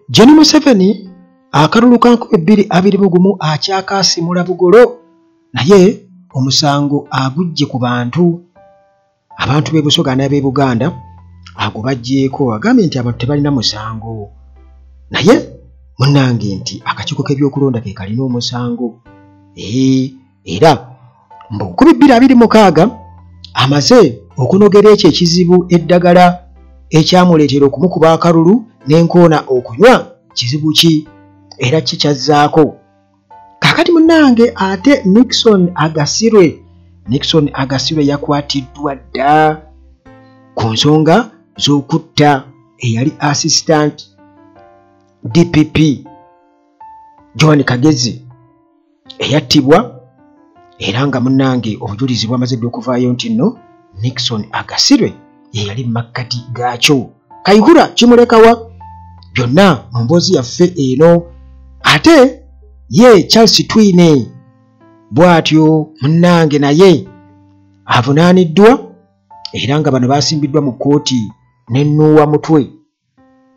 Gen Museveni akalulu ka nkumi bbiri abiri mu gumu akyakaasimula bugolo naye omusango aguggye ku bantu abantu b'e Busoga n'ab'e Buganda ago bagyeko agambye nti abantu tebalina musango naye munange nti akakiiko k'ebyokulonda ke kalina omusango ee era mu bukumi bbiri abiri mukaaga amaze okunogera ekyo ekizibu eddagala ekyamuleetera okumukuba akalulu n'enkoona okunywa kizibu ki era kikyazzaako kakati munange ate nixon agasirwe nixon agasirwe yakwatiddwa dda ku nsonga z'okutta eyali assistant dpp john kagezi eyattibwa era nga munnange obujulizi bwamaze dde okuvaayo nti nno nixon agasirwe ye yali mu makkati gaakyo kayihura kimulekawa byonna mu mboozi yaffe eno ate ye charles twine bw'atyo munnange naye avunaaniddwa era nga bano baasimbiddwa mu kkooti ne nuuwa mutwe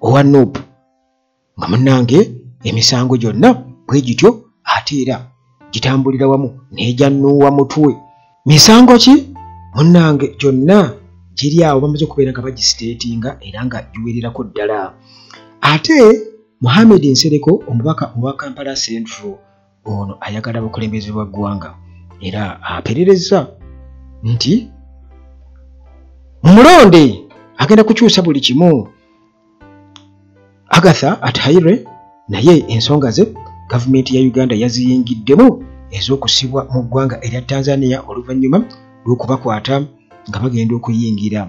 owa nuupu nga munnange emisango gyonna bwe gityo ate era gitambulira wamu n'egyannuuwa mutwe misango ki munnange gyonna giri awo bamaze okubeera nga bagisiteetinga era nga giwererako ddala ate muhammed nsereko omubaka owa kampala central ono ayagala bukulembeze bwa ggwanga era aperereza nti mulonde agenda kukyusa buli kimu agatha athaire naye ensonga ze gavumenti ya uganda yaziyingiddemu ez'okusibwa mu ggwanga erya tanzania oluvannyuma lw'okubakwata nga bagenda okuyingira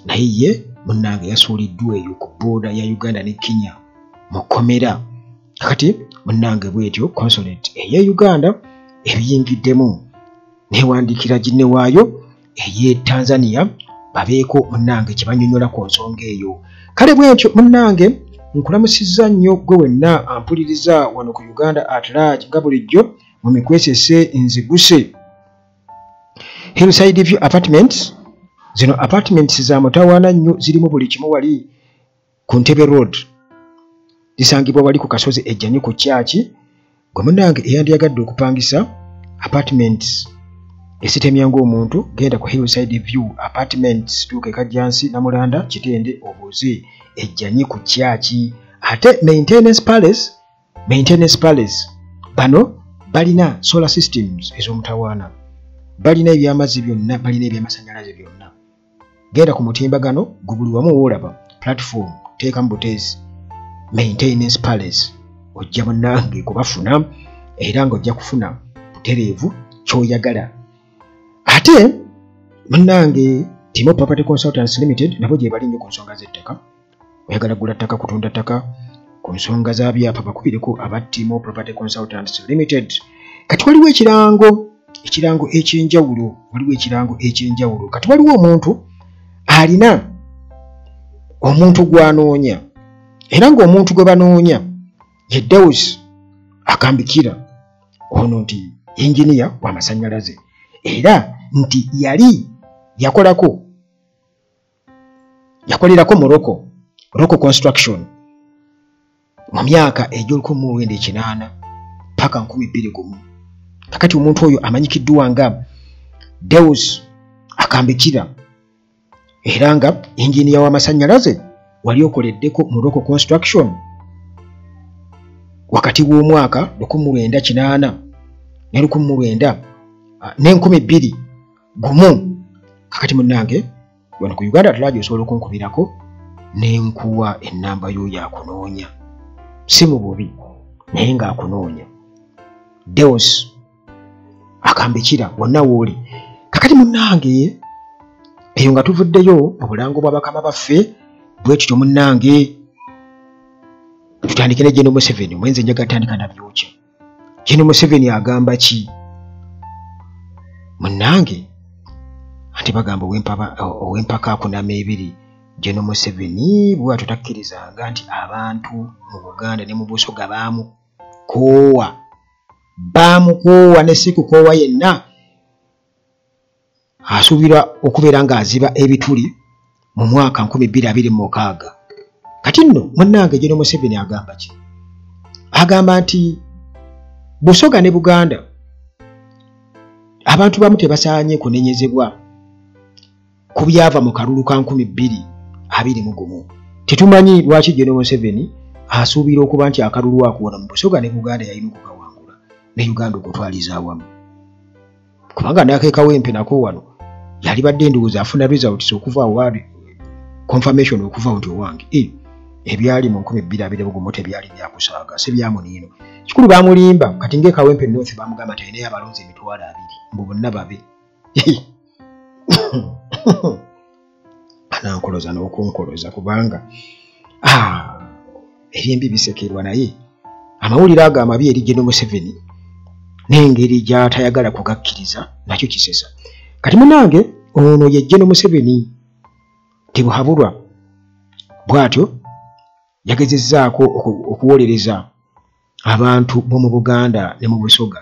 naye ye munnange yasuuliddwa eyo ku booda ya uganda ne kenya mu kkomera kakati munnange bwetyo consulate eye uganda ebiyingiddemu newandiikira ginne waayo ey'e tanzania babeeko munnange kye banyonyola ku nsonga eyo kale bwentyo munnange nkulamusizza nnyo gwe wenna ampuliriza wano ku uganda at large nga bulijjo mu mikwesese nziguse hillside view apartments zino apartments za mutawaana nnyo zirimu buli kimu wali ku ntebe road lisangibwa wali ku kasozi ejjanyi ku kyaki gwe munange eyandyagadde okupangisa apartments esitemya ng'omuntu genda ku hillside view apartments tuuka ekajjansi namulanda kitende obuuze ejjanyi ku kyaki ate maintenance palace maintenance palace bano balina solar systems ez'omutawaana balina ebyamazzi byonna balina ebyamasanyalaze byonna genda ku mutimbagano gwe buli wamu woolaba platform teeka mu buteezi maintenance palace ojja munange kubafuna era nga ojja kufuna butereevu kyoyagala ate munange timo property consultants limited nabo gyebali nnyo ku nsonga z'ettaka oyagala gula ttaka kutunda ttaka ku nsonga za byapa bakubireko aba timo property consultants limited kati waliwo ekirango ekirango ekyenjawulo waliwo ekirango ekyenjawulo kati waliwo omuntu alina omuntu gwanoonya era ngaomuntu gwe banoonya ye deus akambikira ono nti yinginiya wamasanyalaze era nti yali yakolako yakolerako mu roko roko construction mu myaka egy'olukumi mu lwenda ekinaana paka nkumi bbiri gumu kakati omuntu oyo amanyikiddwa nga deus akambikira era nga inginiya w'amasannyalaze wali okoleddeko mu roko construction wakati w'omwaka lukumi mu lwenda kinaana ne lukumi mu lwenda ah, n'enkumi bbiri gumu kakati munange wano ku uganda tulaji osobola okunkubirako nenkuwa enamba yoyo akunoonya si mu bubi naye nga akunoonya deos akambikira wonna wooli kakati munange eyo nga tuvuddeyo mu bulango bwa bakama baffe bwekityo munange tutandike ne geno museveni mwenze njagatandika nabyokya jeni museveni agamba ki munange ati bagamba owempaka akunama ebiri jeno museveni bwatyo takkirizanga nti abantu mu buganda ne mu busoga bamukoowa bamukoowa ne sikukoowa yenna asuubirwa okubeera ng'aziba ebituli mu mwaka 2026 kati nno munnange geno museveni agamba ki agamba nti busoga ne buganda abantu bamu tebasaanye kunenyezebwa ku byava mu kalulu ka 221 tetumanyi lwaki geno museveni asuubira okuba nti akalulu akuwona mu busoga ne buganda yalina okukawangula ne uganda okutwaliza awamu kubanga nakekawo empi nako wano yali badde ndowooza afuna results okuva awali confirmation okuva nti owange eh, ebyali mu nkumi bbiri abiri bugumu tebyali byakusaaga si byamuniino kikulu bamulimba kati ngaekawempe north bamugamba nti alinayo abalonzi emitwalo abiri mbu bonna babe anankoloza n'okunkoloza kubanga ah, ebyembi bisekerwa naye amawulire ago amabi eri geno museveni n'engeri gy'atayagala kugakkiriza nakyo kisesa kati munange ono ye geno museveni tebuhabulwa bw'atyo yagezezzaako okuwolereza abantu b'omu buganda ne mu busoga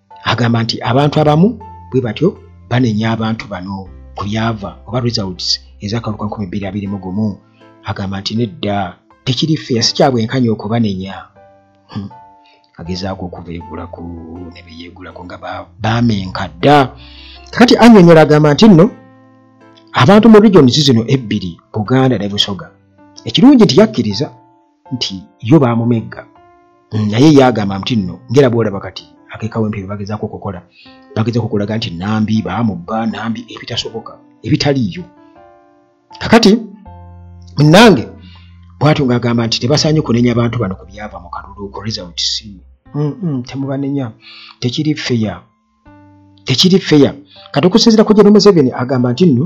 agamba nti abantu abamu bwe batyo banenya abantu bano ku byava oba results ez'akalulu ka 2021 agamba nti nedda tekiri feya si kyabwenkanya okubanenya hmm. agezaako okubeegulako ne beyeegulako nga baamenka dda kakati annyonnyola agamba nti nno abantu mu regions zino ebbiri buganda ne busoga ekirungi nti yakkiriza nti yo baamumegga mm, naye ye agamba nti nno ngera bwolaba kati akekawempe bye bagezaako okukola bagezaako okulaga nti nambi baamubba nambi ebitasoboka ebitaliiyo kakati munange bwatyo ng'agamba nti tebasaanye kunenya abantu bano ku byava mu kalulu ku results mm, mm, temubanenya tekiri feya tekiri feya kati okusinzira ku jeno museveni agamba nti nno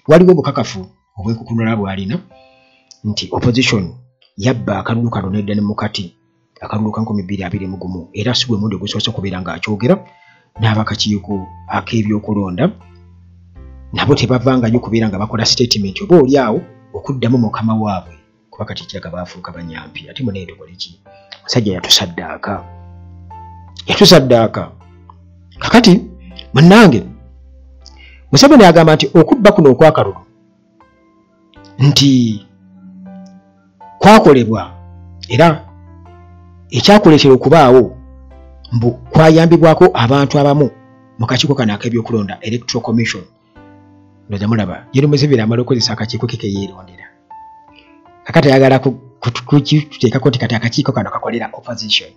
waliwo obukakafu obwekukunula bwalina nti opposition yabba akalulu kano nedda ne mukati akalulu ka nkumi bbiri abiri mu gumu era si gwe mundi ogusoose okubeera ng'akyogera n'abakakiiko ak'ebyokulonda nabo tebavangayo okubeera nga bakola sitatimenti oba oli awo okuddamu mukama waabwe kuba kati kiraga baafuuka banyampi ate munaye tukole ki musajja yatusaddaaka yatusaddaaka kakati munnange museveni agamba nti okubba kuno okwakalulu nti kwakolebwa era ekyakuleetera okubaawo mbu kwayambibwako abantu abamu mu kakiiko kano ak'ebyokulonda electoral commission ndoza mulaba yeri museveni amala okozesa akakiiko ke keyerondera kakati ayagala kukiteekako nti kati akakiiko kano kakolera opposition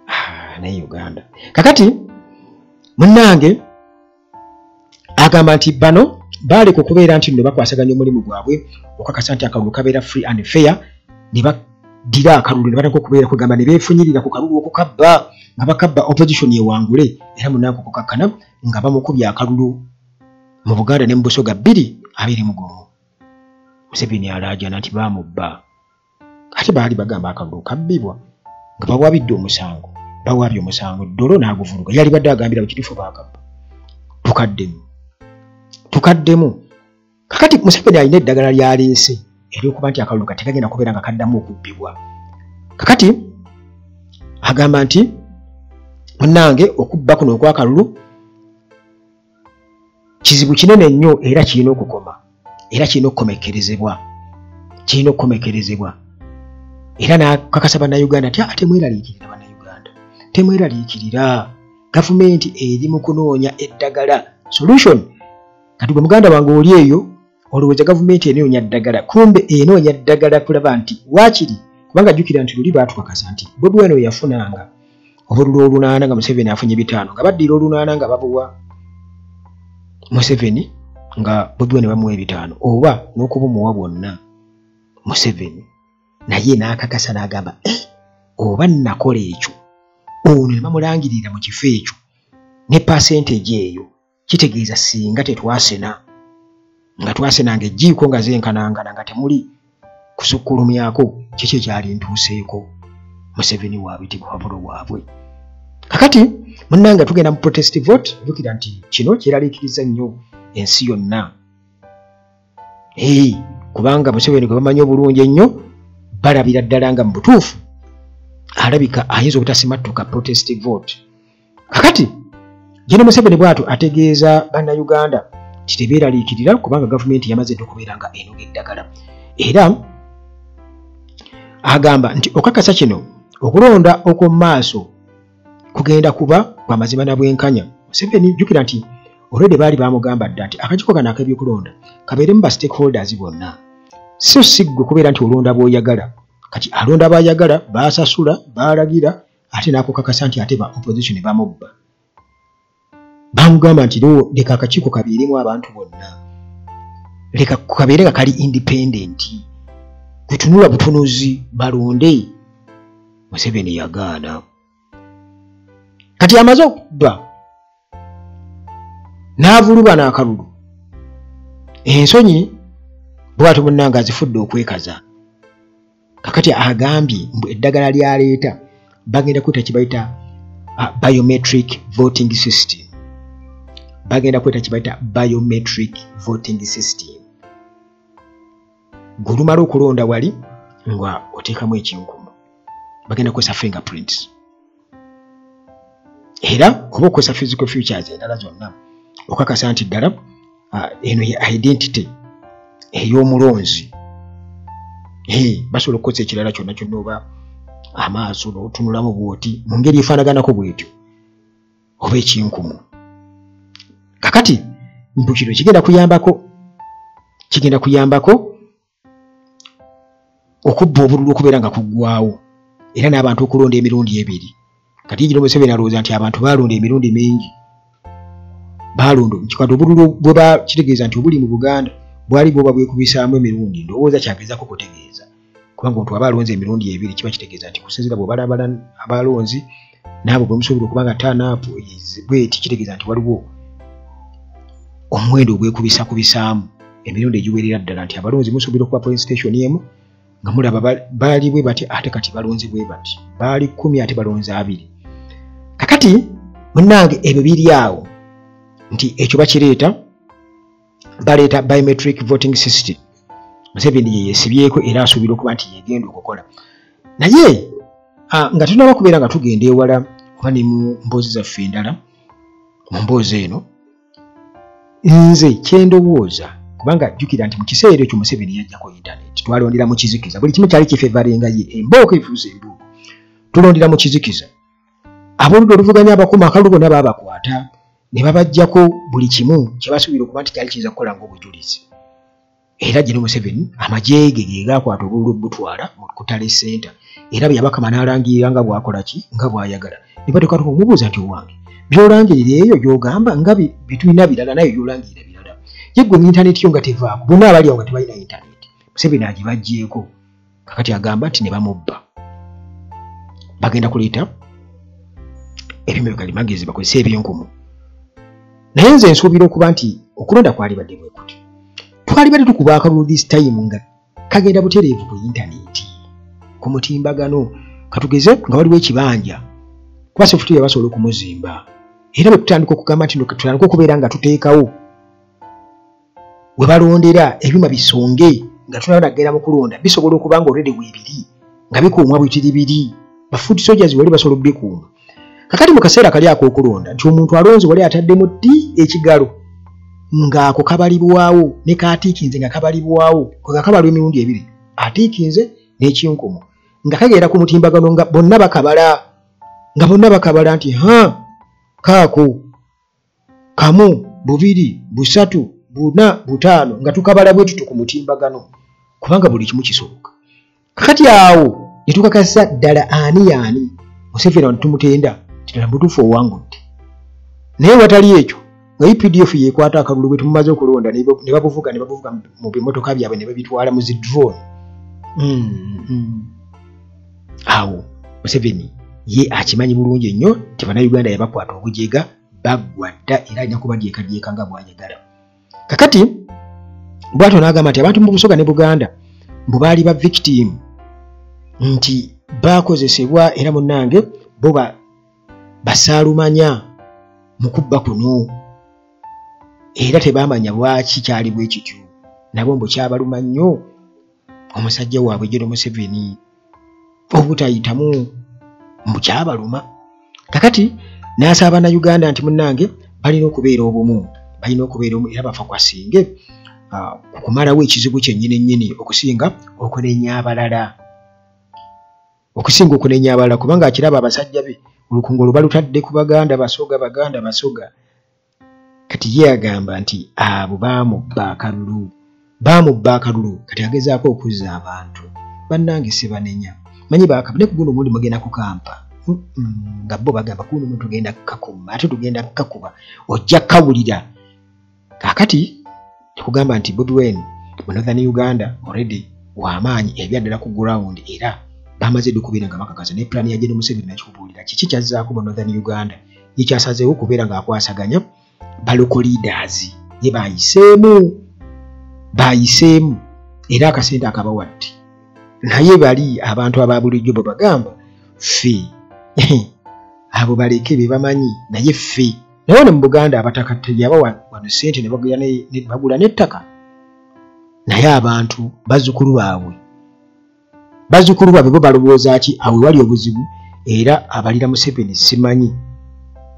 ah, naye uganda kakati munnange agamba nti bano baaleka okubeera nti no bakwasaganya omulimu gwabwe okakasa nti akalulu kabeera free and fair ne baddira akalulu ne bataka okubeera kugamba ne beefunyirira ku kalulu okukabba nga bakabba opposition ewangule era munnange okukakkana nga bamukubye akalulu mu buganda ne mu busoga bbiri abiri mu gumu museveni alaajana nti baamubba ate baali bagamba akalulu kabbibwa nga bawabidde omusango bawabye omusango dolo n'aguvuluga yali badde agambira bwe kitufu baakabba tukaddemu tukaddemu kakati museveni alina eddagala lyaleese eryokuba nti akalulu kati kagenda kubeera nga kaddamu okubbibwa kakati agamba nti munange okubba kuno okwakalulu kizibu kinene nnyo era kirina okukoma era kirina okukomekerezebwa kirina okukomekerezebwa era nakakasa bannayuganda nti ate ah, mweraliikirira bannayuganda temweraliikirira gavumenti eri mu kunoonya eddagala solution kati gwe muganda wange oli eyo olowooza gavumenti enoonya ddagala kumbe enoonya ddagala kulaba nti waakiri kubanga jjukira nti luli baatukakasa nti bobi weno yafunanga obululu olunaana nga museveni afunye bitaano nga baddira olunaana nga babuwa museveni nga bobi weno bamuwa ebitaano oba n'okubumuwa bwonna museveni naye n'akakasa n'agamba eh, oba nnakola ekyo ono ne bamulangirira mu kifo ekyo ne pasenteji eyo kitegeeza singa tetwasena nga twasena nga ejjiiko nga zenkanangana nga temuli kusukkulumyako kiki ekyali ntuuseeko museveni wabitibwa wabulo bwabwe kakati munanga tugenda mu protest vote jukira nti kino kyeralikiriza nnyo ensi yonna ee kubanga museveni gwe bamanyi obulungi ennyo balabira ddala nga mu butuufu alabika ayinza obutasimattuka protest vote kakati jene museveni bwatu ategeeza bannayuganda nti tebeeraliikirira kubanga gavumenti yamaze dde okubeera nga enoga eddagala era agamba nti okakasa kino okulonda okw'omu maaso kugenda kuba kwa mazima na bwenkanya museveni jjukira nti olwedde baali bamugamba dda nti akakiko kano ak'ebyokulonda kabeeremu ba stakeholders bonna so si ggwe kubeera nti olonda bw'oyagala kati alonda baayagala baasasula baalagira ate nakukakasa nti ate ba opposition bamubba bamugamba nti loo leka akakiiko kabeeremu abantu bonna leka kabeere nga kali independent kutunula butunuzi balonde museveni yagaana kati amaze okubba n'avuluba n'akalulu ensonyi bwati munnange azifudde okwekaza kakati agambye mbu eddagala lyaleeta bagenda kweta kibayita uh, biometric voting system bagenda kweta kibayita biometric voting system gulumala okulonda wali nga oteekamu ekinkumu bagenda kukozesa fingerprints era oba okozesa physical futures endala zonna okakasa nti ddala ah, eno ye identity ey'omulonzi basobola okukozesa ekirala kyonna kyonna oba amaaso notunulamu bwoti mu ngeri efaanaganako bwetyo oba ekinkumu kakati mbu kino kigenda kuyambako kigenda kuyambako okubba obululu okubeera nga kuggwawo era n'abantu okulonda emirundi ebiri kati yigino museveni alowooza nti abantu baalonda emirundi mingi baalonda kikati obululu bwe bakitegeeza nti obuli mu buganda bwali bwoba bwekubisaamu emirundi ndowooza kyagezaako kutegeeza kubanga omuntu aba alonze emirundi ebiri kiba kitegeeza nti kusinzira bwebalabala abalonzi naabo bwemusobola okuba nga tanaapu bweti kitegeeza nti waliwo omuwendo ogwekubisa ku bisaamu emirundi egiwerera ddala nti abalonzi musobola okuba polling station emu nga mulaba baali bwe bati ate kati balonzi bwe bati baali kumi ate balonzi abiri kakati munange ebyo biri awo nti ekyo bakireeta baleeta biometric voting system museveni yeyesibyeko era asuubira okuba nti yegenda okukola naye nga tunaba kubeera nga tugenda ewala oba ne mu mboozi zaffe endala mu mboozi eno nze kyendowooza kubanga jjukira nti mu kiseera ekyo museveni yajjako internet twalondera mu kizikiza buli kimu kyali kifevarenga ye embooko efuuza embuuko tulondera mu kizikiza ab'oludda oluvuganya abakuma akalulu bona baabakwata ne babajjako buli kimu kye basuubira okuba nti kyali kiyinza kukola ng'obujulizi era gino museveni amagye ge ge gaakwata obululu obutwala mu kutale senta era bwe yabakama n'alangirira nga bw'akola ki nga bw'ayagala ne bateeka tuka omubuuza nti owange by'olangirira eyo gy'ogamba nga bitulina birala naye by'olangirira birala yeggwe mu intaneti yo nga tevaako bonna abali awo nga tebalina intaneti museveni agibajjeeko kakati agamba nti ne bamubba bagenda kuleeta ebyuma bye kalimagezi bakozese ebyenkumu naye nze nsuubira okuba nti okulonda kwalibadde bwe kuti twalibadde tukuba akalulu this time nga kagenda butereevu ku yintaneti ku mutimbagano katugeze nga waliwo ekibanja kuba sefutiya basobola okumuzimba era bwe tutandika okugamba nti tutandika okubeera nga tuteekawo we balondera ebyuma bisonge nga tulaba nagenda mu kulonda bisobola okuba nga olredi weebiri nga bikuumwa bwitiri biri bafuuti sojas wali basobola okubikuuma kakati mu kaseera kali ak'okulonda nti omuntu alonzi wali ataddemu ddi ekigalo ng'ako kabalibwawo ne kaatiikinze nga kabalibwawo nga kabalwa emirundi ebiri atiikinze n'ekinkumu nga kagenda ku mutimbagano nga bonna bakabala nga bonna bakabala nti ha kaako kamu bubiri busatu buna butaano nga tukabala bwe tutu ku mutimbagano kubanga buli kimu kisoboka kakati awo ne tukakasa ddala ani yaani museveni abantu tumutenda kitala mubutuufu owangudde naye watali ekyo nga updf yekwata akalulu bwe tumumaze okulonda ne babuvuga ne babuvuga mu bimotoka byabwe ne babitwala mu zi drone mm, mm. awo museveni ye akimanyi bulungi nnyo nti bannayuganda yabakwata obujega baggwa dda era alina kubadyekadyeka nga bwayagala kakati bwatyo n'agamba nti abantu mu busoga ne buganda mbu baali ba victim nti baakozesebwa era munnange bo basaalumanya mu kubba kuno era tebaamanya lwaki kyali bwe kityo nabo mbu kyabaluma nnyo omusajja waabwe jero museveni obutayitamu mukyabaluma kakati nasaba banauganda nti munange balina okubeera obumu balina okubeera omu era bafa kwasinge ah, okumalawo ekizibu kyenyini nyini okusinga okunenya abalala okusinga okunenya abalala kubanga akiraba abasajja be olukungu olubalutadde ku baganda basoga baganda basoga kati ye agamba nti abo baamubba akalulu baamubba akalulu kati agezaako okuzza abantu bannange sibanenya manyi bakaba ne kuguno omundi mugenda kukampa nga bo bagamba kuno omuntu tugenda kukakuma ate tugenda kukakuba ojja kukawulira kakati tekugamba nti bobi wen mu northern uganda already wamaanyi ebyaddala ku ground era bamaze dukubira nga bakakasa ne plan ya jeno museveni nakikubuulira kiki kyazzaako mu northern uganda ye kyasazeewo kubeera ng'akwasaganya baloko leaders ye bayiseemu bayiseemu era akasente akabawa ddi naye bali abantu aba bulijjo bwe bagamba ffe abo baleke be bamanyi naye ffe naye ne mu buganda abataka teyabawa wano sente ne bagula n'ettaka naye abantu bazzukulu baabwe bazukulu babwe bo balowooza ki awe wali obuzibu era abalira museveni simanyi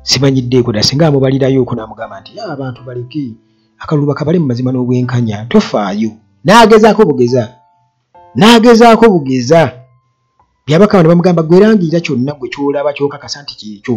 simanyiddeeko da singa amubalirayo oku namugamba nti ah, abantu baleke akalulu bakabale mu mazima n'obwenkanya tofaayo n'agezaako bugeza n'agezaako bugeza byabakaba ne bamugamba gwerangirira kyonna gwe kyolaba kyokakasa nti kyekyo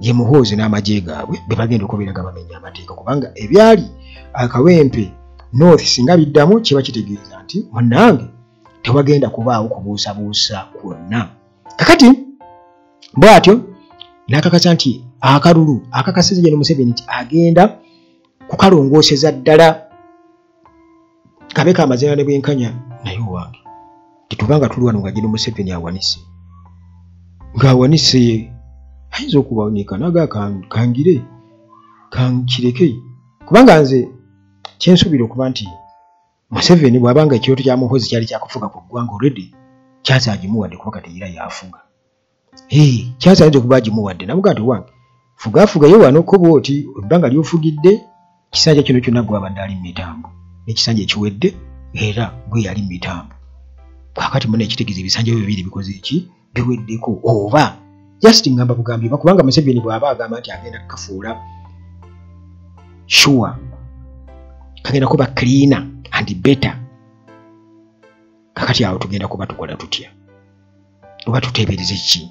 ye muhoozi n'amagye gaabwe be bagenda okubeera nga bamenya amateeka kubanga ebyali akawempe north singa biddamu kiba kitegeeza nti munange tewagenda kubaawo kubuusabuusa kwonna kakati bwatyo n'akakasa nti akalulu akakasiza gye ne museveni nti agenda kukalongooseza ddala kabe ka mazina ne bwenkanya naye owange tetuba nga tuli wano nga gino museveni awanise ng'awanise ayinza okubanika naga kangire kankireke kubanga nze kyensuubira okuba nti museveni bwabanga ekirooto kya muhozi kyali kyakufuga ku ggwanga olredi kyaza agimuwadde kuba kati era yafuga kyansi ayinza okuba agimuwadde namuga nti wange fugafugayo wano ko bwoti ebbanga lyofugidde ekisanja kino kyonna gwabadde ali mu mitambo ekisanja ekiwedde era gwe yali mu mitambo kakati muna ekitegeeza ebisanja byo bibiri bikoze eki biweddeko oba just ngamba bugambye bakubanga museveni bwaba agamba nti agenda kukafuula sure kagenda kuba cleaner and better kakati awo tugenda kuba tukola tutya oba tuteebereza ki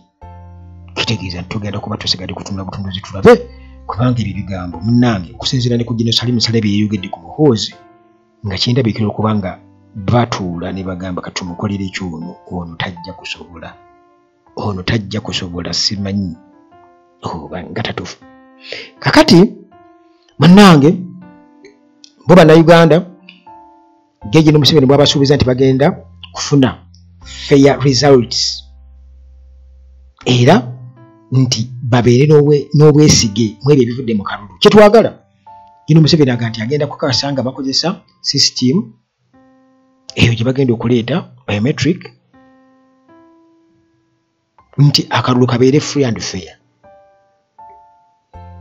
kitegeeza nti tugenda kuba tusigadde kutunula butunuzi tulabe kubanga ebyo bigambo munnange okusinziira ne ku ginosalimu sale bye yeyogedde ku muhoozi nga kyendabikira okuba nga batuula ne bagamba kati tumukolera ekyono ono tajja kusobola ono tajja kusobola simanyi oba nga tatufu kakati munnange bo bannayuganda Geje ne Museveni bwabasuubiza nti bagenda kufuna fair results era nti babeere n'obwesige mu ebyo ebivudde mu kalulu kyetwagala ino Museveni aga nti agenda kukakasa nga bakozesa system eyo gye bagenda okuleeta biometric nti akalulu kabeere free and fair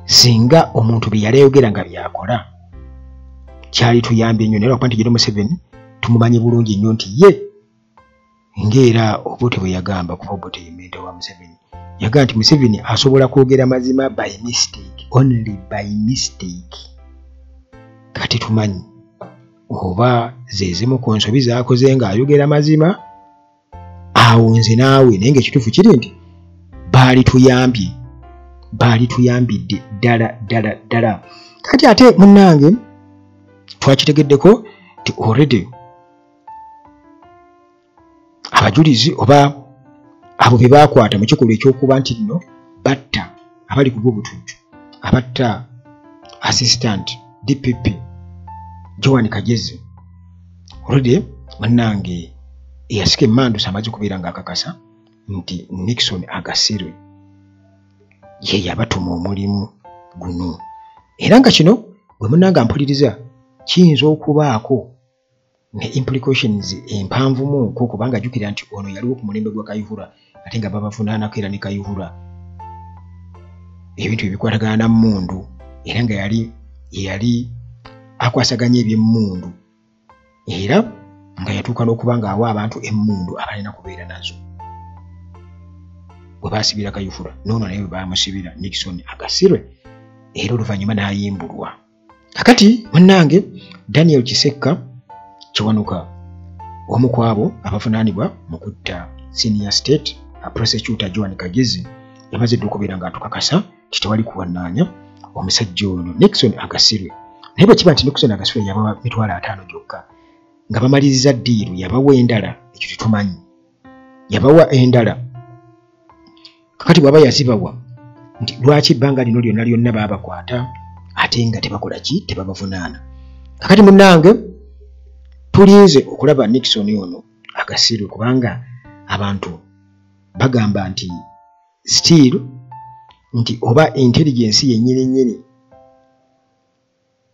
singa omuntu bye yali ayogera nga byakola kyali tuyambye nnyo naye lwakuba nti jere museveni tumumanyi bulungi nnyo nti ye ngaera obote bwe yagamba kuba obote yementa wa museveni yagamba nti museveni asobola kwogera mazima by mistake only by mistake kati tumanyi oba zezimu ku nsobi zakoze ng'ayogera mazima awo nze naawe naye ngaekituufu kiri nti baali tuyambye baali tuyambidde ddala ddala ddala kati ate munnange twakitegeddeko ti already abajulizi oba abo be baakwata mu kikolwa ekyokuba nti nno batta abali ku bwobutujju abatta assistant dpp joan kagezi olwedde bannange eyasika emandusa amaze kubeera nga akakasa nti nixon agasirwe ye yabatuma omulimu guno era nga kino gwe munanga mpuliriza kiyinza okubaako ne implications empanvumu ko kubanga jukira nti ono yaliwo ku mulembe gwa kayihura ate nga babavunaanako era ne kayihura ebintu ebikwatagana na mundu era nga yali yeyali akwasaganya ebyemundu era nga yatuuka n'okuba ng'awa abantu emundu abalina kubeera nazo bwe baasibira kayufura noono naye bwe baamusibira nixon agasirwe era oluvannyuma n'ayimbulwa kakati munnange daniel kisekka kiwanuka omu ku abo abavunaanibwa mu kutta senior state prosecutor joan kagezi yamazidde okubeera ng'atukakasa nti tewali kuwannaanya omusajja ono nixon agasirwe naye bwe kiba nti nixon agasirwe yabawa mitwalo ataano gyokka nga bamaliriza ddiiru yabawa endala ekyo tetumanyi yabawa endala kakati bwaba yazibawa nti lwaki ebbanga lino lyonna lyonna babakwata ate nga tebakola ki tebabavunaana kakati munange tulinze okulaba nixon ono agasiru kubanga abantu bagamba nti still nti oba intelligence yennyini nnyini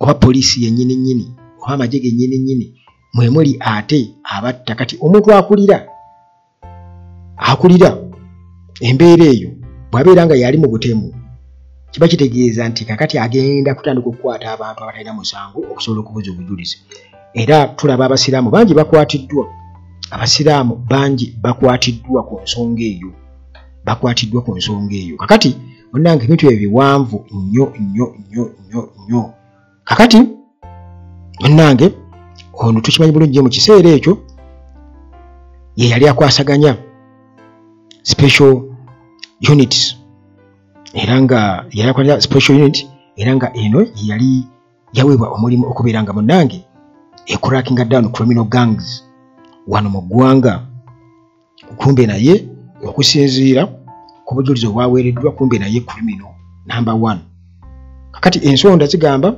oba poliisi yennyini nnyini oba amagye gennyini nnyini mwe muli ate abatta kati omuntu akulira akulira embeera eyo bw'abeera nga yali mu butemu kiba kitegeeza nti kakati agenda kutandika okukwata abantu abatalina musango okusobola okubuza obujulizi era tulaba abasiraamu bangi bakwatiddwa abasiraamu bangi bakwatiddwa ku nsonga eyo bakwatiddwa ku nsonga eyo kakati munange ebintu ebyo biwanvu nnyo nnyo nnyo nnyo nnyo kakati munange ono tukimanyi bulungi mu kiseera ekyo ye yali akwasaganya special units era nga yali akwasaganya special unit era nga eno yeyali yaweebwa omulimu okubeera nga munange ekurakinga down criminal gangs wano mu ggwanga kumbe naye okusinziira ku bujulizi obwaweereddwa kumbe naye krimino namba one kakati ensonda zigamba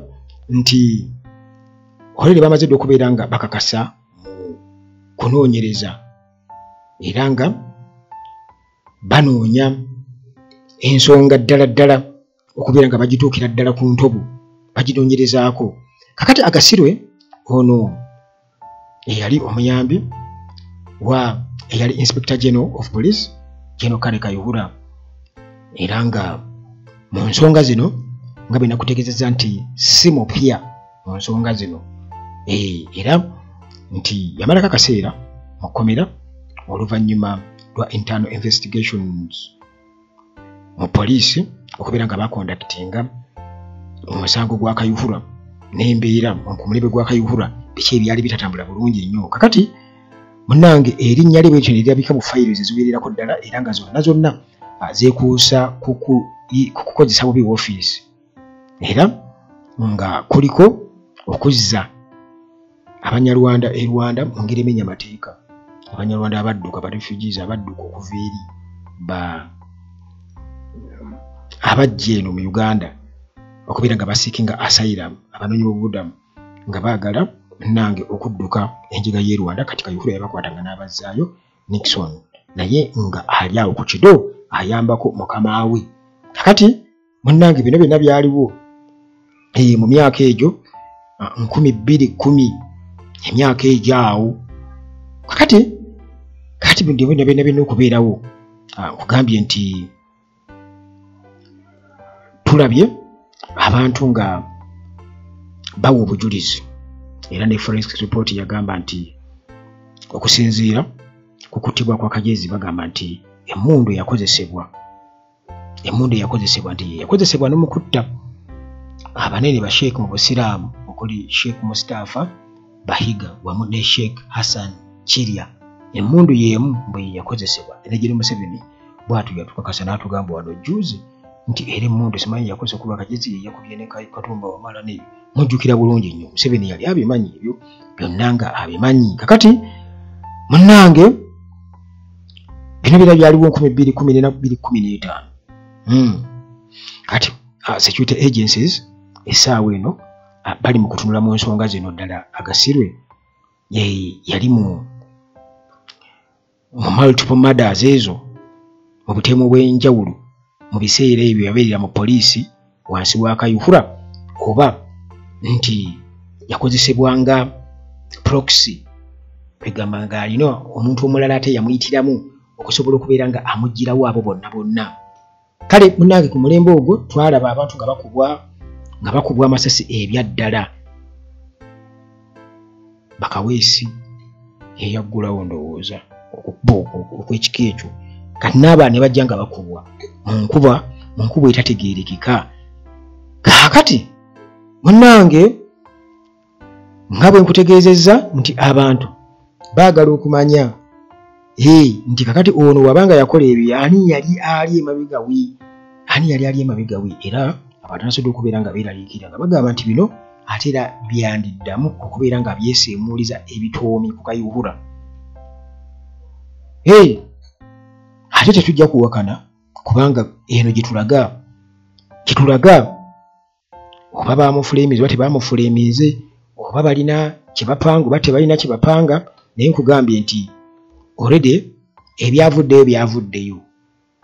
nti olere bamaze dde okubeera nga bakakasa mu kunoonyereza era nga banoonya ensonga ddala ddala okubeera nga bagituukira ddala ku ntobo bagidonyerezaako kakati agasirwe ono eyali omuyambi wa eyali inspector general of police geno kale kayuhura era nga mu nsonga zino nga bwe nakutegeezezza nti si mupya mu nsonga zino eh, era nti yamalako akaseera mu kkomera oluvannyuma lwa internal investigations mu poliisi okubeera nga bakondakitinga omusango gwa kayuhura n'embeera ku mulembe gwa kayuhura biki ebyali bitatambula bulungi ennyo kakati munange erinnya lye bwekyo nerirabika mu fayiro ze ziwererako ddala era nga zonna zonna ah, zeekuusa kukukozesa bubi woofiisi era nga kuliko okuzza abanyarwanda e rwanda mu ngeri emenya amateeka abanyarwanda abadduka ba refugees abadduka okuva eri ba abajja eno mu uganda okubeera nga basiiki nga asairam abanoonyi bobubudamu nga baagala nange okudduka enjiga y'e rwanda kati kayuhura yabakwata nga n'abazzaayo nixon naye nga ali awo ku kido ayambako mukama we kakati munnange bino byonna byaliwo eh, mu myaka egyo ah, nkumi bbiri kkumi emyaka egyo awo kakati kati byonna byonna byonna okubeerawo ah, nkugambye nti tulabye abantu nga bawa obujulizi era ne forensic report yagamba nti okusinziira ku kuttibwa kwa kajezi bagamba nti emundu yakozesebwa emundu eyakozesebwa nti yeyakozesebwa nomukutta abanene basheik mu busiraamu okuli sheik mustafa bahiga wamu ne sheik hassan kirya emundu yemu bwe yeyakozesebwa era giri museveni bwatu yatukakasa natugamba wano juzi nti era emundu simanyi yakozesa kuba kagezi yeyakubye ne katumba wamala ne mujjukira bulungi nnyo museveni yali abimanyi ebyo byonna nga abimanyi kakati munange bino bira byaliwo nkumi bbiri kumi nena bbiri kumi n'etaano hmm. kati ah, security agencies essaawa eno ah, bali mu kutunula mu nsonga zino ddala agasirwe yali mu mu multiple murders ezo mu butemu bw'enjawulo mu biseera ebyo yabeerera mu poliisi wansi w'akayuhura oba nti yakozesebwa nga proxy kwegamba nga alina omuntu omulala ate yamuyitiramu okusobola okubeera nga amugirawo abo bonna bonna kale munange ku mulembe ogwo twalaba abantu nga bakubwa nga bakubwa amasasi ebyaddala bakaweesi yeyaggulawo ndowooza okukuba okwekika ekyo kati naaba ne bajja nga bakubwa munkuba munkuba etategeerekeka kaakati munange nga bwe nkutegeezezza nti abantu baagala okumanya hey, nti kakati ono waba nga yakola ebyo ani yali ali emabega wi ani yali ali emabega wi era abantu nasobola okubeera nga beeraliikira nga bagamba nti bino ate era byandiddamu okubeera nga byeseemuuliza ebitoomi ku kayuhura hey, ate tetujja kuwakana kubanga eno gyetulaga kyetulaga oba baamufuleeminze oba tebaamufuleeminze oba balina kye bapanga oba tebalina kye bapanga naye nkugambye nti olredi ebyavuddeyo byavuddeyo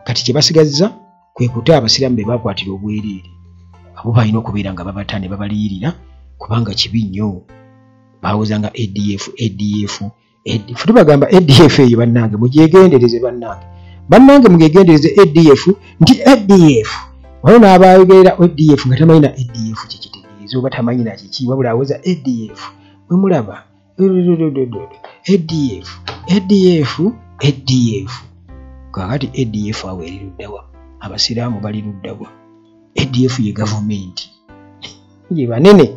kati kye basigazza kwe kuta abasiraamu be baakwatira obwereere abo balina okubeera nga babata ne babaliyirira kubanga kibi nnyo bawoza nga adf adf edi futi bagamba adf eyo bannange mugyegendereze bannange bannange mugyegendereze adf nti adf waliwo n'abayogerera adf nga tamanyi na adf kyekitegeeza oba tamanyi na kiki wabula aweza adf wemulaba adf adf adf kakati adf awo eri luddawa abasiraamu bali luddawa adf ye gavumenti ye banene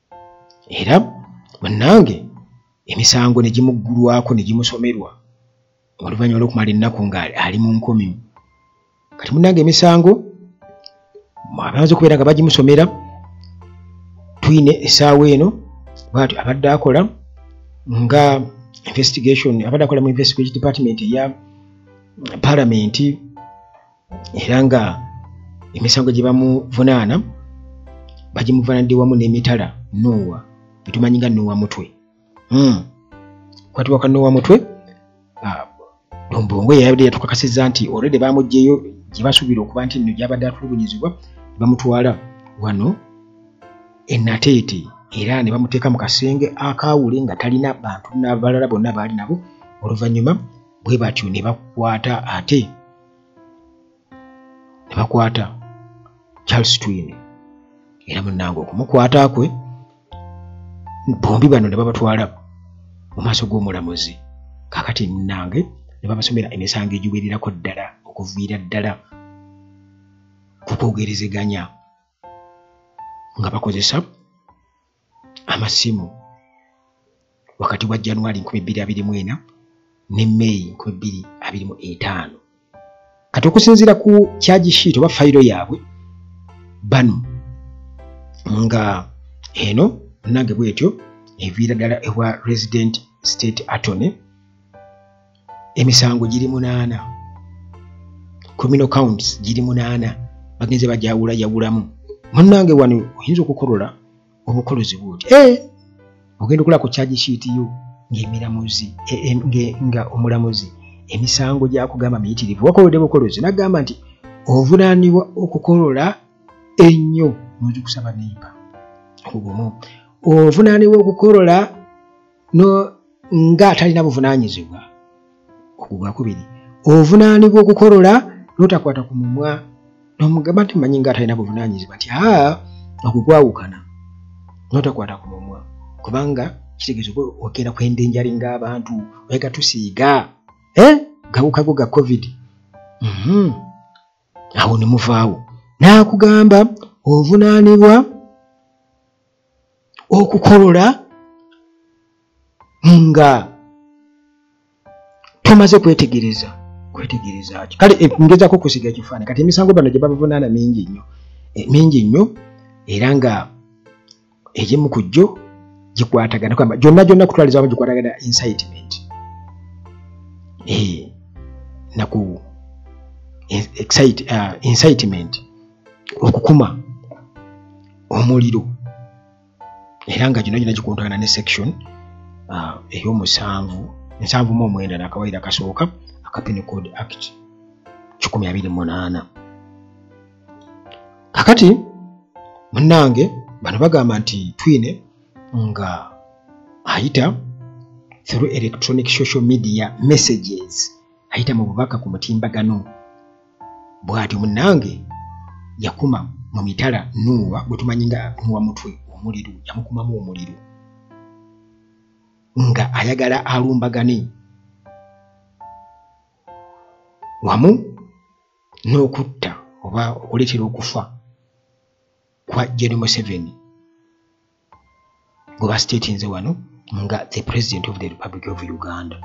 era bannange emisango ne gimuggulwako ne gimusomerwa oluvannyuma lw'okumala ennaku nga ali mu nkomi kati munnange emisango abaanza okubeera nga bagimusomera twine esaawa eno bwatyo abadde akola nga investigation abadde akola mu investigation department eya palamenti era nga emisango gye bamuvunaana bagimuvunaanidde wamu n'emitala nuuwa betumanyi nga nuuwa mutwe hmm. kwatiwa ka nuuwa mutwe ah, dombongo yeyabadde yatukakasiza nti olredi bamugjeyo gye basuubira okuba nti nno gyabadde atulugunyizibwa bamutwala wano enateete era ne bamuteeka mu kasenge akaawule nga talina bantu nabalala bonna baali nabo oluvannyuma bwe batyo ne bakwata ate ne bakwata charles twine era munange okumukwata kwe bombi bano ne babatwala mu maaso g'omulamuzi kakati munange ne babasomera emisango egiwererako ddala okuviira ddala ku kwogerezeganya nga bakozesa amasimu wakati wa januari 224 ne may 225 kati okusinziira ku kyagi shiit oba fayiro yaabwe bano nga eno nange bwetyo eviira ddala ewa resident state attorney emisango giri munaana communo counts giri munaana bagenze bajawula yawulamu munange wano oyinza okukolola obukolozi bwoti eh! ogenda okulako kyagi kiitiyo ngaemiramuzi e, e, nga omulamuzi emisango gyakugamba miyitirivu wakolode bukolozi nagamba nti ovunaanibwa okukolola ennyo munzikusaba nemba obumu ovunaanibwa okukolola no nga atalina buvunanyizibwa ogwo gwakubiri ovunaanibwa okukolola notakwata ku mumwa nomugamba nti manyi nga atalina buvunanyizibwa nti a ogwo gwawukana notakwata ku mumwa kubanga kitegeeza oba ogenda kwenda enjali ngaabantu oyagatusiiga eh? gawukago ga covid mm -hmm. awo ne muvaawo n'akugamba ovunaanibwa okukolola nga tomaze kwetegereza kwetegereza ki kale eh, ngezako okusiga ekifaananyi kati emisango bano gye babavunaana mingi nnyo eh, mingi nnyo era nga egimu ku gyo gikwatagana kwamba gyonna gyonna kutwaliza wamu gikwatagana incitement eh, naku uh, incitement okukuma omuliro era nga gino gina gikontagana ne section uh, eyomusanvu nsanvu mu omwenda nakawaire akasooka akapini code act kikumi abiri munaana kakati munange bano bagamba nti twine nga ayita through electronic social media messages ayita mu bubaka ku mutimbagano bwatyo munange yakuma mu mitala nuuwa gwetumanyi nga nuwa mutwe omuliro yamukumamu omuliro nga ayagala alumbagane wamu n'okutta oba okuleetera okufa kwa gen museveni gwe basitetinze wano nga the president of the republic of uganda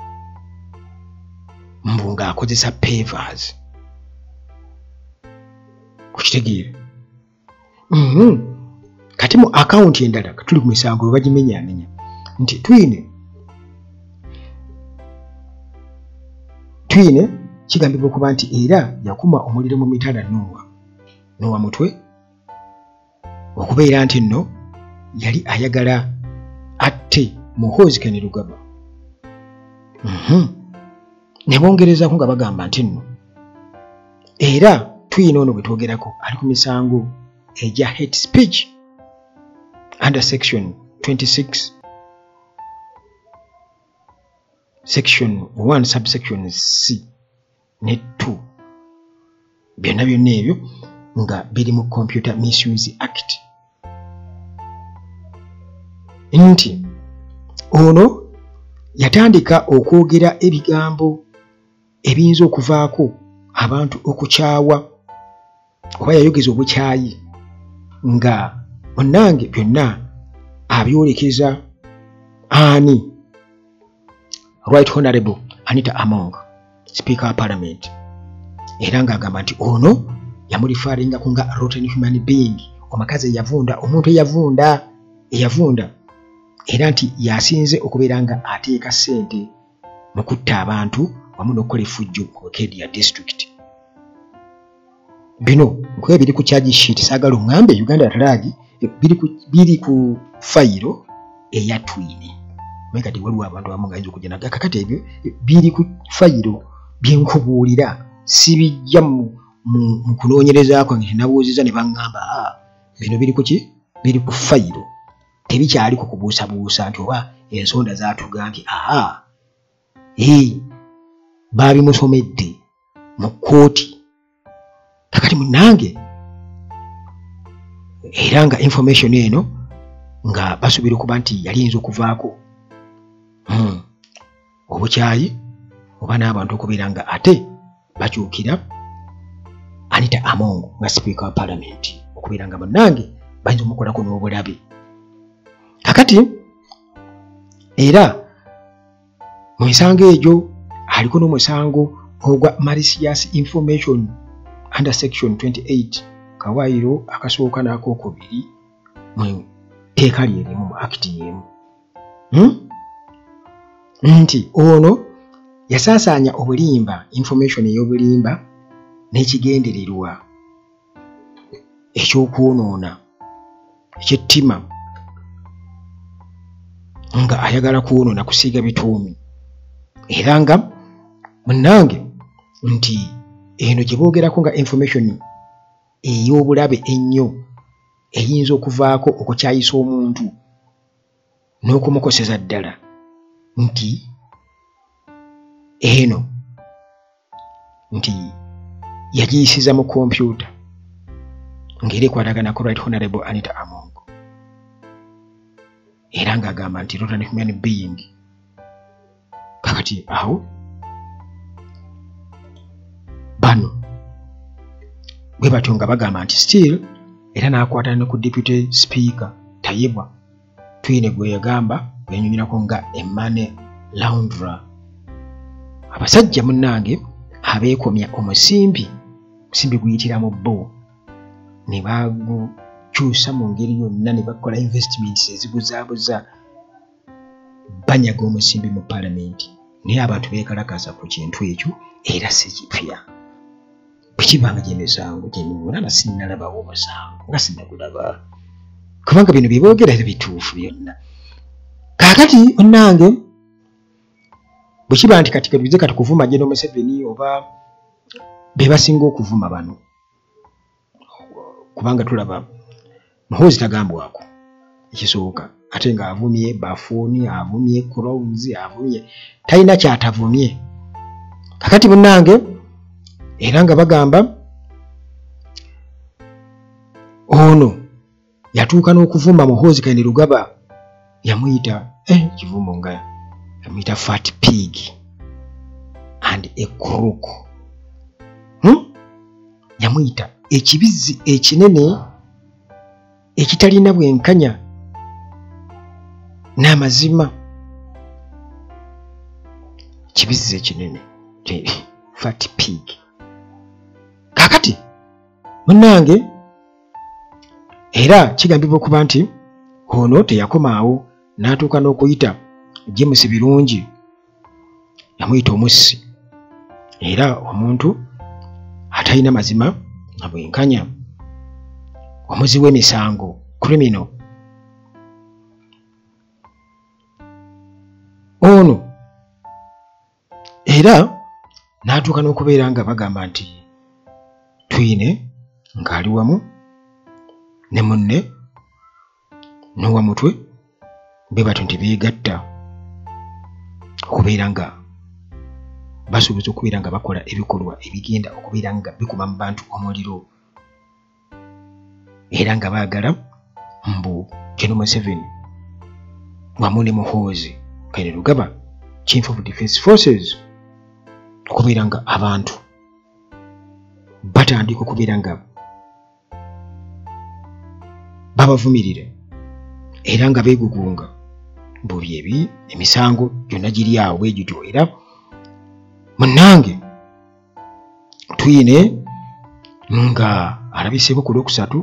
mbu ng'akozesa pavers okitegeera mm-hmm. kati mu akawunti endala tuli ku misango lwe bagimenyaamenya nti twine twine kigambibwa okuba nti era yakuma omuliro mu mitala nuuwa nuwa mutwe okubeera nti nno yali ayagala atte muhoozi kene lugaba mm-hmm. ne bongerezaako nga bagamba nti nno era tuyina ono bwe twogerako ali ku misango egya hate speech under section 26 section 1 subsection c ne 2 byonna byonna ebyo nga biri mu computer misuse act nti ono yatandika okwogera ebigambo ebiyinza okuvaako abantu okukyawa oba yayogeza obukyayi nga onnange byonna abyolekeza ani right honorable anita among speaker wa parliament era ng'agamba nti ono yamulifaaringako nga rotten human being omukazi eyavunda omuntu eyavunda eyavunda era nti yasinze okubeera nga ateeka ssente mu kutta abantu wamu n'okukola efujjo mu kedia district bino nkuba biri ku charge sheet saagala oŋŋambe uganda atalaagi biri ku fayiro eya twini naye kati waliwo abantu abamu nga yinza okujja naga kakati ebyo biri ku fayiro bye nkubuulira sibijja mu kunoonyereza kwange tenabuuziza ne baŋŋamba ah, bino biri ku ki biri ku fayiro tebikyaliko kubuusabuusa nti oba ensonda zatuga nti aa ee baabimusomedde mu kkooti kakati munange era nga information eno nga basuubira okuba nti yali yinza okuvaako hmm. obukyayi oba n'abantu okubeera nga ate bakyukira anita among nga sipiika wa palamenti okubeera nga munange bayinza omukolako n'obulabe kakati era mu misango egyo aliko n'omusango ogwa malicious information under section 28 kawaayiro akasooka n'akokubiri mu tteeka lye limu mu akiti y'emu hmm? nti ono yasaasaanya obulimba information ey'obulimba n'ekigendererwa ekyokwonoona ekyettima nga ayagala kwonoona kusiiga bituumi era nga munange nti eno gye boogerako nga information ey'obulabe ennyo eyinza okuvaako okukyayisa omuntu n'okumukoseza ddala nti eno nti yagiyisiza mu kompyuta ngeri ekwatagana ku right honorable anita amongo era ng'agamba nti rotary human being kakati awo bano bwe batyo nga bagamba nti still era n'akwatana ne ku deputy speaker tayebwa twine gwe yagamba yanyumirako nga emane laundra abasajja munnange abeekomya omusimbi omusimbi guyitira mu bo ne bagukyusa mu ngeri yonna ne bakola investments eziguzaabuza banyaga omusimbi mu palamenti naye abantu bekalakaasa ku kintu ekyo era si kipya bwekibanga gyemisango gyemiwulaba sinalabawo omusango nga sinagulaba kubanga bino byeboogera era bituufu byonna kakati onange bwekiba nti kati katuze kati kuvuma jeno museveni oba bebasinga okuvuma bano kubanga tulaba muhoozi tagambwako ekisooka ate nga avumye bafuuni avumye crowns avumye talina kyatavumye kakati munange era nga bagamba ono yatuuka n'okuvumba muhoozi kayini lugaba yamuyita eh, kivumbo nga yamuyita fat pig and a crook hmm? yamuyita ekibizzi ekinene ekitalina bwenkanya n'amazima kibizzi ekinene fat pig kakati munange era kigambibwa okuba nti ono teyakomaawo n'atuuka n'okuyita james birungi yamuyita omussi era omuntu atalina mazima na bwenkanya omuzi w'emisango krimino ono era n'atuuka n'okubeera nga bagamba nti twine ng'ali wamu ne munne n'owa mutwe be batyo nti beegatta okubeera nga basuubiza okubeera nga bakola ebikolwa ebigenda okubeera nga bikuma mu bantu omuliro era nga baagala mbu kino museveni wamu ne muhoozi kaire lugaba chief of defense forces okubeera nga abantu batandika okubeera nga babavumirira era nga beegugunga buli ebi emisango gyonna giri awo bwe gityo era munnange twine nga alabiseeko ku lwokusatu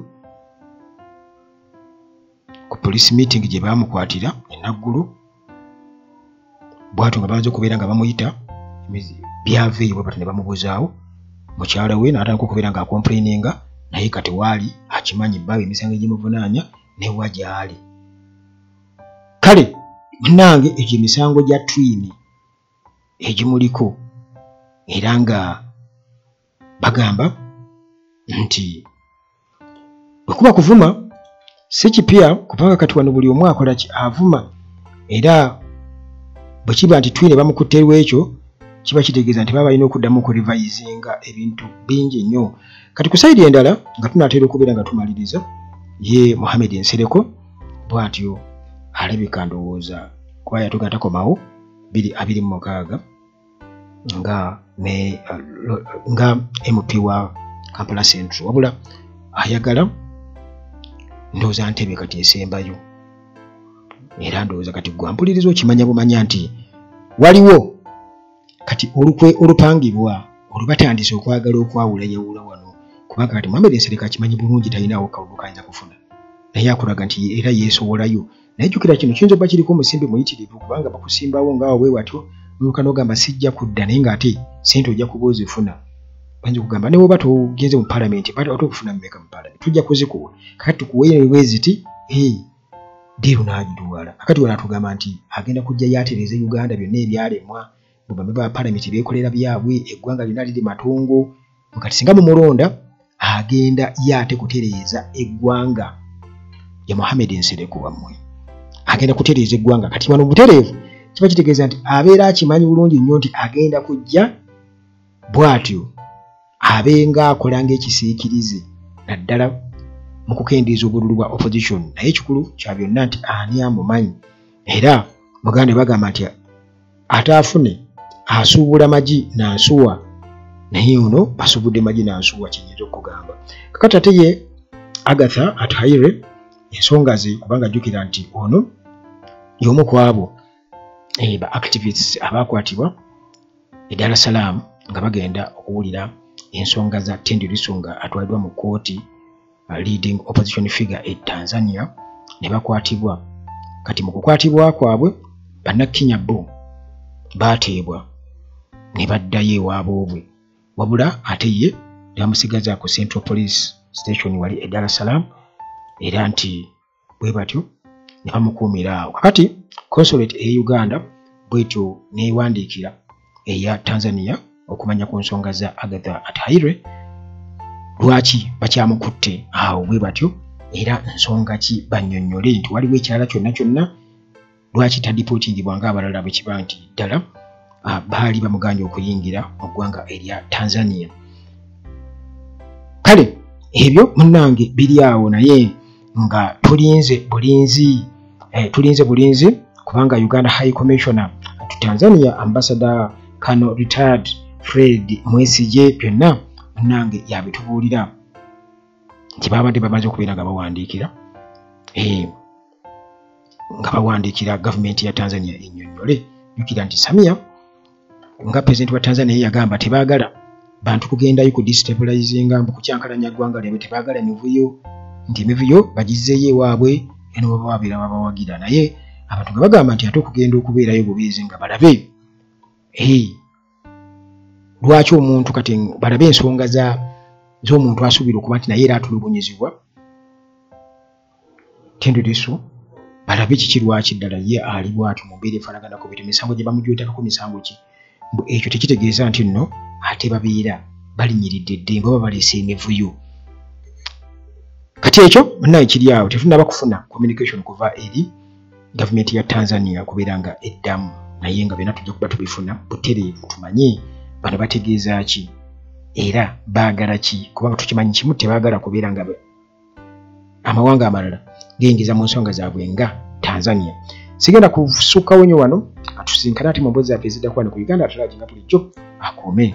ku police meeting gye baamukwatira enaggulu bwatyo nga banza okubeera nga bamuyita byava eyo bwebati ne bamubuzaawo mukyala we naatandika okubeera nga akomplaininga naye kati waali akimanyi baawe emisango egimuvunaanya newa gyali kale munange egyo emisango gya twini egimuliko era nga bagamba nti bwekuba kuvuma si kipya kubanga kati wano buli omu akola ki avuma era bwe kiba nti twine bamukutte lwekyo kiba kitegeeza nti baba balina okuddamu okurevisinga ebintu bingi nnyo kati ku saidi endala nga tunaatera okubeera nga tumaliriza ye muhammed nsereko bwatyo alabika ndowooza kwaya tugatakomawo biri abiri mu mukaaga nga ne nga mp wa kampala central wabula ayagala ndowooza ntebe kati esembayo era ndowooza kati gwampuliriza okimanya bumanya nti waliwo kati olukwe olupangibwa olubatandise okwagala okwawula yawula wano kubanga kati muhamedi nsereka akimanyi bulungi talinawo kalulu kayinza kufuna naye akulaga nti era yeesowolayo naye jukira kino kiyinza okuba kiriko omusimbi muyitirivu kubanga bakusimbawo ngaawo bwe watyo noluka nogamba sijja kudda naye ngaate sente ojja kuba ozifuna banji kugamba naye oba togenze mu palamenti bat ate okufuna mumeka mu palamenti tujja kuzikuwa kati tukuweyo nebweziti hey, diiru n'agiduwala akati wala atugamba nti agenda kujja yatereza uganda byonna ebyalemwa bubambe ba palamenti bekolera byabwe eggwanga lyona liri matongo kati singa mumulonda agenda ye ate kutereeza eggwanga ya muhammed nsereko wammwe agenda kutereeza eggwanga kati wano butereevu kiba kitegeeza nti abeera akimanyi bulungi nnyo nti agenda kujja bwatyo abenga akola ngaekisiikirize naddala mu kukendeeza obululu bwa opposition naye ekikulu kya byonna nti ani amumanyi era muganda bagamba nti ate afune asuubula magi nansuwa naye ono asubudde magi nansuwa kyenyinza okugamba kakati ate ye agatha at hire ensonga ze kubanga jjukira nti ono yomu kwabo eh, ba activists abakwatibwa e dar es salaam nga bagenda okuwulira ensonga za tendi lisu nga atwaliddwa mu kooti leading opposition figure e tanzania ne bakwatibwa kati mu kukwatibwa kwabwe bannakenya bo baateebwa ne baddayo ewaaba obwe wabula ate ye nebamusigaza ku central police station wali e dar es salaam era nti bwe batyo ne bamukuumira awo kakati consulate eye uganda bwetyo neewandiikira eya tanzania okumanya ku nsonga za agatha ataire lwaki bakyamukutte awo bwe batyo era nsonga ki bannyonnyole nti waliwo ekirala kyonna kyonna lwaki tadipotingibwa nga abalala bwe kiba nti ddala ah, baali bamuganye okuyingira mu ggwanga erya tanzania kale ebyo munange biri awo naye nga tulinze bulinzi eh, tulinze bulinzi kubanga uganda high commissioner to tanzania ambassador kano retired fred mwesigye byonna munange yabitubuulira nti babadde bamaze okubeera nga bawandiikira eh, nga bawandiikira gavumenti ya tanzania enyonyole jukira nti samia nga pulezidenti wa tanzania yagamba tebagala bantu kugendayo ku destabilizinga mbu kukyankalanya ggwanga lyabwe tebagala mivuyo nti emivuyo bagizzeeyo ewaabwe eno baba babeera babawagira naye abantu nga bagamba nti ate okugenda okubeerayo bubeezi nga balabe lwaki omuntu kati balabe ensonga z'omuntu asuubira okuba nti naye era atulugunyizibwa tendereso balabe kiki lwaki ddala ye ali bwati mumbeera efanaganako bete misango gye bamujwetakako misango ki mbu ekyo tekitegeeza nti nno ate babeera balinyiridde eddembe oba baleese emivuyo kati ekyo naye kiri awo tetunaba kufuna communication kuva eri gavumenti ya tanzania kubeera nga eddamu naye nga byona tujja kuba tubifuna butereevu tumanye bano bategeeza ki era baagala ki kubanga tukimanyi kimu tebaagala kubeera nga amawanga amalala geyingiza mu nsonga zaabwe nga tanzania sigenda kusukkawo nyo wano atusinkana ati mu mbozi zaffe eziddakuba ne ku uganda atulaginga bulijjo akuume